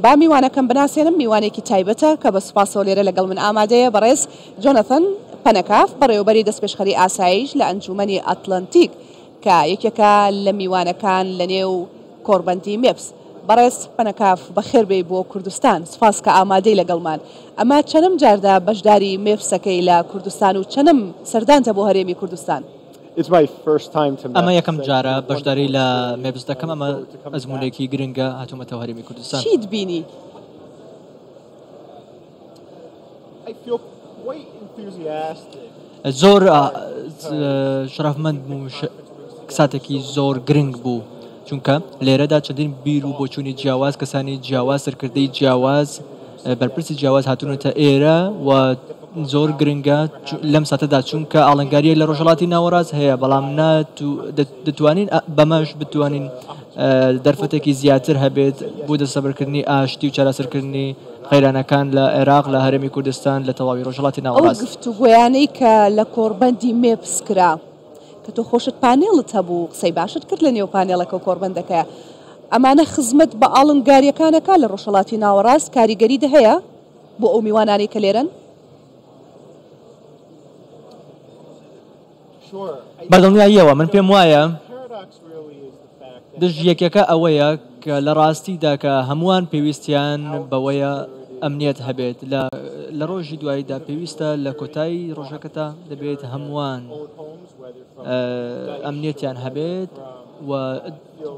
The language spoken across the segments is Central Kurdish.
با میوانەکەم بناسێنم، میوانێکی تایبەتە کە بە سوپاسەوە لێرە لەگەڵ من ئامادەیە، بەڕێز جۆنەثن پەنەکاف، بەڕێوەبەری دەستپێشخەری ئاسایش لە ئەنجوومەنی ئەتلەنتیک، کە یەکێکە لە میوانەکان لەنێو کۆڕبەندی مێپس. بەڕێز پەنەکاف، بەخێربێی بۆ کوردستان. سوپاس کە ئامادەی لەگەڵمان. ئەمە چەنم جاردە بەشداری مێپسەکەی لە کوردستان و چەنم سەردانتە بۆ هەرێمی کوردستان؟ ئەمە یەکەم جارە بەشداری لە مێپس دەکەم ئەمە ئەزمونێکی گرنگە هاتوومەتەوە هەرێمی کوردستان چیت بینی؟ زۆر شرفمەند ساتێکی زۆر گرنگ بوو چونکە لێرەدا چەندین بیر و بۆچوونی جیاواز کەسانی جیاواز سەرکردەی جیاواز بەرپرسی جیاواز هاتوونەتە ئێرە و زۆر گرنگە لەم ساتەدا چونکە ئاڵنگاریە لە ڕۆژهڵاتی ناوەڕاست هەیە بەڵام دەتوانین بەمەش بتوانین دەرفەتێکی زیاتر هەبێت بۆ دەسەبرکردنی ئاشتی و چارەسەرکردنی قەیرانەکان لە عێراق لە هەرێمی کوردستان لە تەواوی ڕۆژهڵاتی ناوەڕاست گفتوگۆیانەی کە لە کۆڕبەندی مێپس کرا. کە تۆ خۆشت پانێڵت هەبوو قسەی باشت کرد لە نێو پانێڵەکە و کۆڕبەندەکەیا ئەمانە خزمەت بە ئاڵنگاریەکان ئەکا لە ڕۆژهەڵاتی ناوەڕاست کاریگەریت هەیە بۆ ئەو میوانانەی کە لێرەن؟ بە دڵنیاییەوە من پێم وایە دژ یەکەکە ئەوەیە کە لە ڕاستیدا کە هەمووان پێویستیان بەوەیە ئەمنیەت هەبێت لە لە ڕۆژی دواییدا پێویستە لە کۆتایی ڕۆژەکەتا دەبێت هەمووان ئەمنیەتیان هەبێت و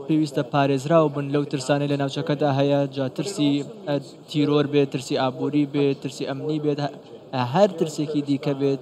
پێویستە پارێزراو بن لەو ترسانەی لە ناوچەکەدا هەیە جا ترسی تیرۆر بێت ترسی ئابووری بێت ترسی ئەمنی بێت هەر ترسێکی دیکە بێت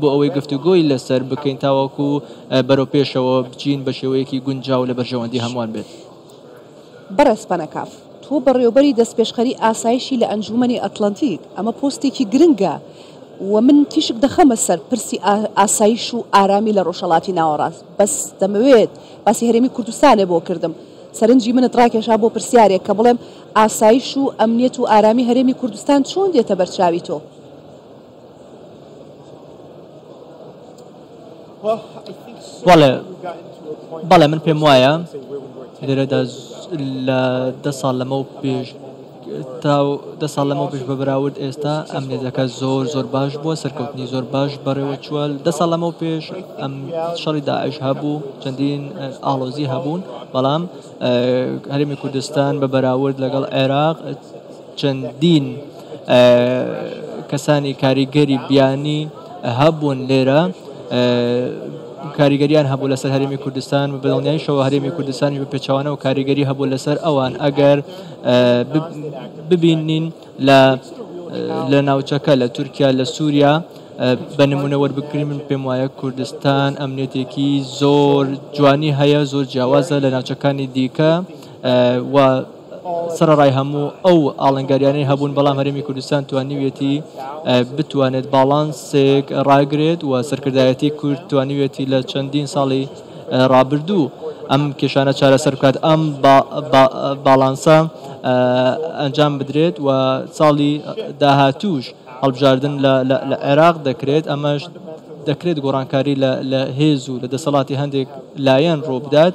بۆ ئەوەی گفتوگۆی لەسەر بکەین تاوەکو بەرەوپێشەوە بچین بە شێوەیەکی گونجاو لە بەرژەوەندی هەمووان بێت. بەڕێز پەنەکاف، تۆ بەڕێوەبەری دەستپێشخەری ئاسایشی لە ئەنجوومەنی ئەتڵەنتیک، ئەمە پۆستێکی گرنگە و من تیشک دەخەمە سەر پرسی ئاسایش و ئارامی لە ڕۆژهەڵاتی ناوەڕاست، بەس دەمەوێت، باسی هەرێمی کوردستانێ بۆ کردم، سەرنجی منت ڕاکێشا بۆ پرسیارێک کە بڵێم ئاسایش و ئەمنیەت و ئارامی هەرێمی کوردستان چۆن دێتە بەرچاوی تۆ؟ بەڵێ بەڵێ من پێم وایە لێرەدا لە دە ساڵ لەمە و پێش تا دە ساڵ لەمە پێش بە بەراورد ئێستا ئەم نێزەکە زۆر زۆر باش بووە سەرکەوتنی زۆر باش بەڕێوە چووە دە ساڵ لەمە و پێش ئەم شەڕی داعش هەبوو چەندین ئاڵۆزی هەبوون بەڵام هەرمی کوردستان بە بەراورد لەگەڵ عێراق چەندین کەسانی کاریگەری بیانی هەبوون لێرە کاریگەریان هەبوو لەسەر هەرمی کوردستان و بەڵنیایشەوە هەرمی کوردستانی بە پێچوانە و کاریگەری هەبوو لەسەر ئەوان ئەگەر ببینین لە لە ناوچەکە لە تورکیا لە سووریا بە نمونە وەربکرین من پێم وایە کوردستان ئەمنێتێکی زۆر جوانی هەیە زۆر جیاوازە لە ناوچەکانی دیکە و سەرەڕای هەموو ئەو ئاڵنگاریانەی هەبوون بەڵام هەرێمی کوردستان توانیویەتی بتوانێت باڵانسێک ڕاگرێت و سەرکردایەتی کورد توانیویەتی لە چەندین ساڵی ڕابردوو ئەم کێشانە چارەسەر بکات ئەم باڵانسە ئەنجام بدرێت و ساڵی داهاتووش هەڵبژاردن لە عێراق دەکرێت ئەمەش دەکرێت گۆڕانکاری لە هێز و لە دەسەڵاتی هەندێک لایەن ڕووبدات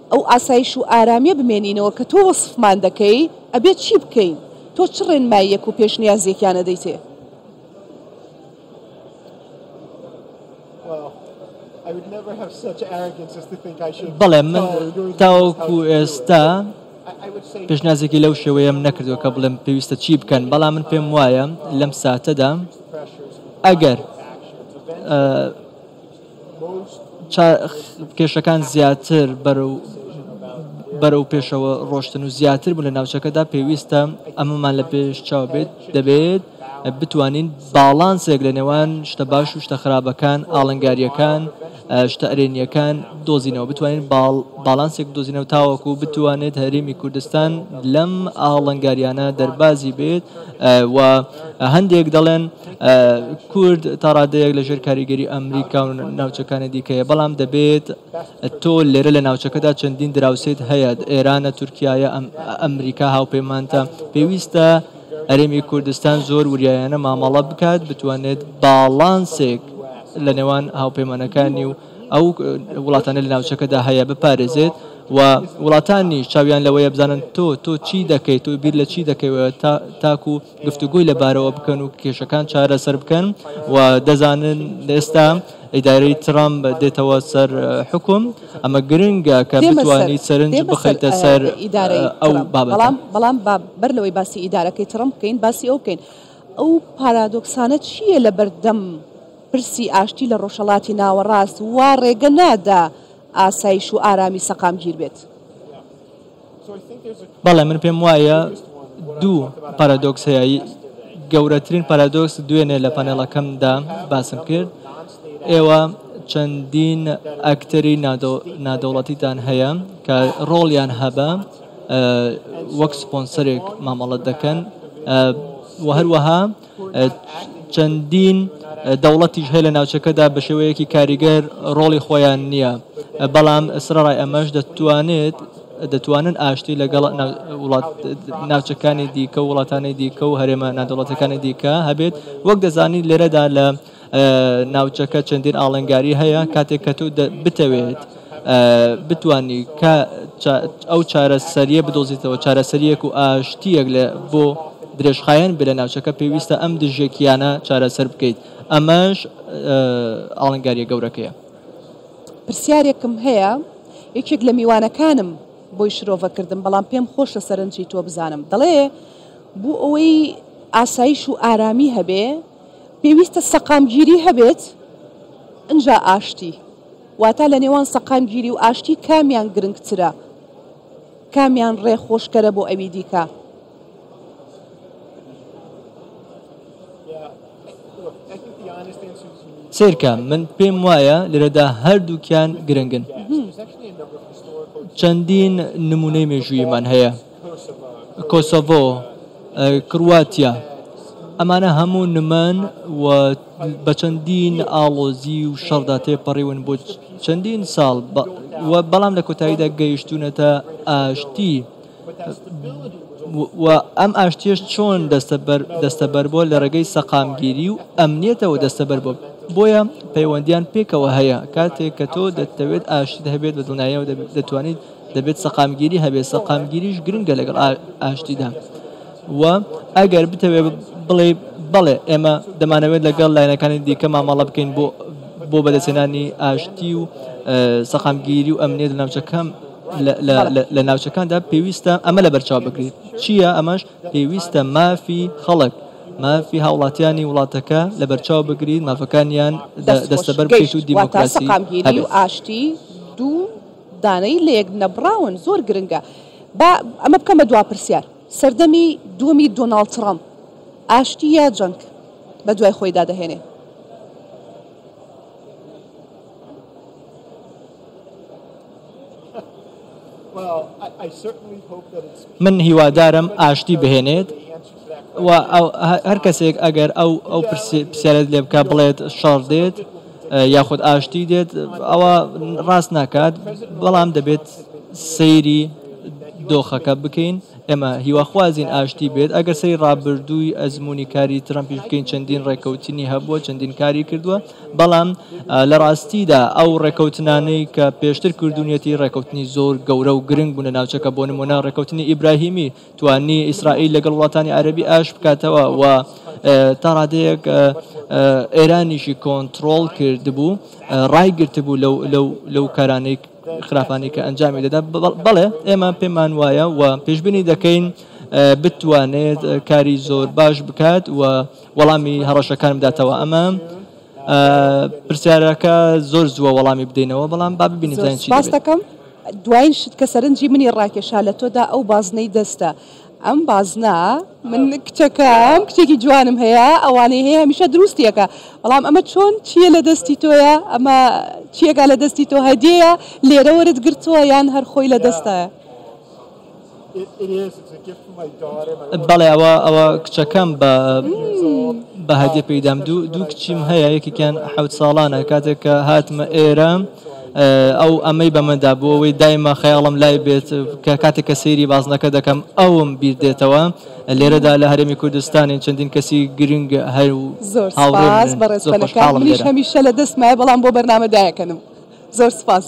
ئەو ئاسایش و ئارامیە بمێنینەوە کە تۆ وەسفمان دەکەی ئەبێت چی بکەین؟ تۆ چ ڕێنماییەک و پێشنیازێکیان ئەدەیتێ؟ بەڵێ من تاوەکو ئێستا پێشنیازێکی لەو شێوەیەم نەکردووە کە بڵێم پێویستە چی بکەن بەڵام من پێم وایە لەم ساتەدا ئەگەر کێشەکان زیاتر بەرەو پێشەوە ڕۆشتن و زیاتر بوون لە ناوچەکەدا، پێویستە ئەمەمان لە پێش چاو بێت، دەبێت بتوانین باڵانسێک لە نێوان شتە باش و شتە خراپەکان، ئاڵنگارییەکان، شتە ئەرێنییەکان دۆزینەوە، بتوانین باڵانسێک بدۆزینەوە تاوەکو بتوانێت هەرێمی کوردستان لەم ئاڵنگارییانە دەربازی بێت و هەندێک دەڵێن، کورد تا ڕادەیەک لە ژێر کاریگەری ئەمریکا و ناوچەکانی دیکەیە بەڵام دەبێت تۆ لێرە لە ناوچەکەدا چەندین دراوسێت هەیە ئێرانە تورکایە ئەمریکا هاوپەیمانتە پێویستە هەرێمی کوردستان زۆر وریایانە مامەڵە بکات بتوانێت باڵانسێک لە نێوان هاوپەیمانەکانی و ئەو وڵاتانی لە ناوچەکەدا هەیە بپارێزێت و وڵاتانی چاویان لەوەیە بزانن تۆ تۆ چی دەکەیت تۆ بیر لە چی دەکەوێت تاکو گفتوگۆی لەبارەوە بکەن و کێشەکان چارەسەر بکەن و دەزانن ئێستا ئیدارەی ترامپ دێتەوە سەر حکوم ئەمە گرنگە کە بتوانیت سەرنج بخەیتە سەر ئەو بابەتە. بەڵام با بەر لەوەی باسی ئیدارەکەی ترەمپ بکەین باسی ئەو بکەین ئەو پارادۆکسانە چییە لە بەردەم پرسی ئاشتی لە ڕۆژهەڵاتی ناوەڕاست وا ڕێگە نادا ئاسایش و ئارامی سەقامگیر بێت؟ بەڵێ من پێم وایە دوو پارادۆکس هەیە گەورەترین پارادۆکس دوێنێ لە پەنێڵەکەمدا باسم کرد ئێوە چەندین ئەکتەری نادەوڵەتیتان هەیە کە ڕۆڵیان هەبە وەک سپۆنسەرێک مامەڵەت دەکەن و هەروەها چەندین دەوڵەتیش هەیە لە ناوچەکەدا بە شێوەیەکی کاریگەر ڕۆڵی خۆیان نییە، بەڵام سەرەڕای ئەمەش دەتوانێت دەتوانن ئاشتی لەگەڵ ناوچەکانی دیکە و وڵاتانی دیکە و هەرێمە نادەوڵەتیەکانی دیکە هەبێت، وەک دەزانین لێرەدا لە. ناوچەکە چەندین ئاڵنگاری هەیە کاتێک کە تۆ بتەوێت بتانی کە ئەو چارەسەریە بدۆزیتەوە چارەسەریەک و ئاشتیەک لە بۆ درێژخایەن بێ لە ناوچەکە پێویستە ئەم دژێکیانە چارەسەر بکەیت ئەمەش ئاڵنگاریە گەورەکەیە پرسیارێکم هەیە یەکێک لە میوانەکانم بۆی شرۆڤە کردم بەڵام پێم خۆش لە سەرنجی تۆ بزانم دەڵێ بوو ئەوەی ئاسایش و ئارامی هەبێ پێویستە سەقامگیری هەبێت ئنجا ئاشتی. واتا لە نێوان سەقامگیری و ئاشتی کامیان گرنگترە؟ کامیان ڕێ خۆشکەرە بۆ ئەوی دیکە؟ سەیرکە من پێم وایە لێرەدا هەردووکیان گرنگن چەندین نمونەی مێژوویمان هەیە کۆسۆڤۆ، کرواتیا، ئەمانە هەموو نمەن و بە چەندین ئاڵۆزی و شەڕدا تێپەڕیون بۆ چەندین ساڵ و بەڵام لە کۆتاییدا گەیشتوونەتە ئاشتی و ئەم ئاشتیش چۆن دەستەبەر بووە لە ڕێگەی سەقامگیری و ئەمنیەتەوە دەستەبەر بووە بۆیە پەیوەندیان پێکەوە هەیە کاتێک کە تۆ دەتەوێت ئاشتیت هەبێت بە دڵنیایەوە دەتوانیت دەبێت سەقامگیری هەبێت سەقامگیریش گرنگە لەگەڵ ئاشتیدا و ئەگەر بتەوێت بڵێ بەڵێ ئێمە دەمانەوێت لەگەڵ لایەنەکانی دیکە مامەڵە بکەین بۆ بۆ بەدەستێنانی ئاشتی و سەقامگیری و ئەمنێت لە ناوچەکەم لە ناوچەکاندا پێویستە ئەمە لە بەرچاو بکرێت چییە ئەمەش پێویستە مافی خەڵک مافی هاوڵاتیانی وڵاتەکە لە بەرچاو بگرین مافەکانیان دەستەبەر بکەیت و دیموکراسی و ئاشتی دوو دانەی لەیەک نەبڕاون زۆر گرنگە. با ئەمە بکەم بە دوا پرسیار، سەردەمی دووەمی دۆناڵد تڕەمپ ئاشتی یا جەنگ بە دوای خۆیدا دەهێنێ؟ من هیوادارم ئاشتی بهێنێت. وە هەر کەسێک ئەگەر ئەو ئەو پرسیارت لێ بکە بڵێت شەڕ دێت یاخود ئاشتی دێت ئەوە ڕاست ناکات بەڵام دەبێت سەیری دۆخەکە بکەین ئێمە هیواخوازین ئاشتی بێت ئەگەر سری ڕابردووی ئەزمموی کاری ترەمپیش بکەین چەندین ڕێککەوتنی هەبووە چەندین کاری کردووە بەڵام لە ڕاستیدا ئەو ڕێککەوتنانەی کە پێشتر کردوونیەتی ڕێککەوتنی زۆر گەورە و گرنگ بوون لە ناوچەکە بۆ نمونە ڕێککەوتنی ئیبراهیمی توانی ئیسرائیل لەگەڵ وڵاتانی عەرەبی ئاش بکاتەوە و تا ڕادەیەک ئێرانیشی کۆنتترۆڵ کردبوو ڕایگرتبوو لەو کارانەی خراپانی کە ئەنجامی دەدا بەڵێ ئێمە پێمان وایە و پێشببینی دەکەین بتوانێت کاری زۆر باش بکات و وەڵامی هەڕەشەکان بداتەوە ئەمە پرسیارەکە زۆر زووە وەڵامی بدەینەوە بەڵام با ببینین زۆر سپاست دەکەم دوایین شت کە سەرنجی منی ڕاکێشا لە تۆدا ئەو بازنەی دەستە ئەم بازنە من کچەکەم کچێکی جوانم هەیە ئەوانەی هەیە هەمیشە دروستیەکە بەڵام ئەمە چۆن چییە لە دەستی تۆیە ئەمە چیەکە لە دەستی تۆ هەدیەیە لێرە وەرت گرتووە یان هەرخۆی لە دەستە بەڵێ ئەوە ئەوە کچەکەم بە بە هەدیە پێدام دوو دوو کچیم هەیە یەکێکیان حەوت ساڵانە کاتێک کە هاتمە ئێرە ئەو ئەمەی بەمەدا بۆ ئەوەی دایمە خەیاڵم لای بێت کە کاتێک کە سەیری بازنەکە دەکەم ئەوم بیر دێتەوە لێرەدا لە هەرێمی کوردستانی چەندین کەسی گرنگ هەر و زۆر هاوڕێز بەڕێزەکەڵم هەمیشە لە دەستمای بەڵام بۆ بەرنامەدایەکەنم زۆر سپاس.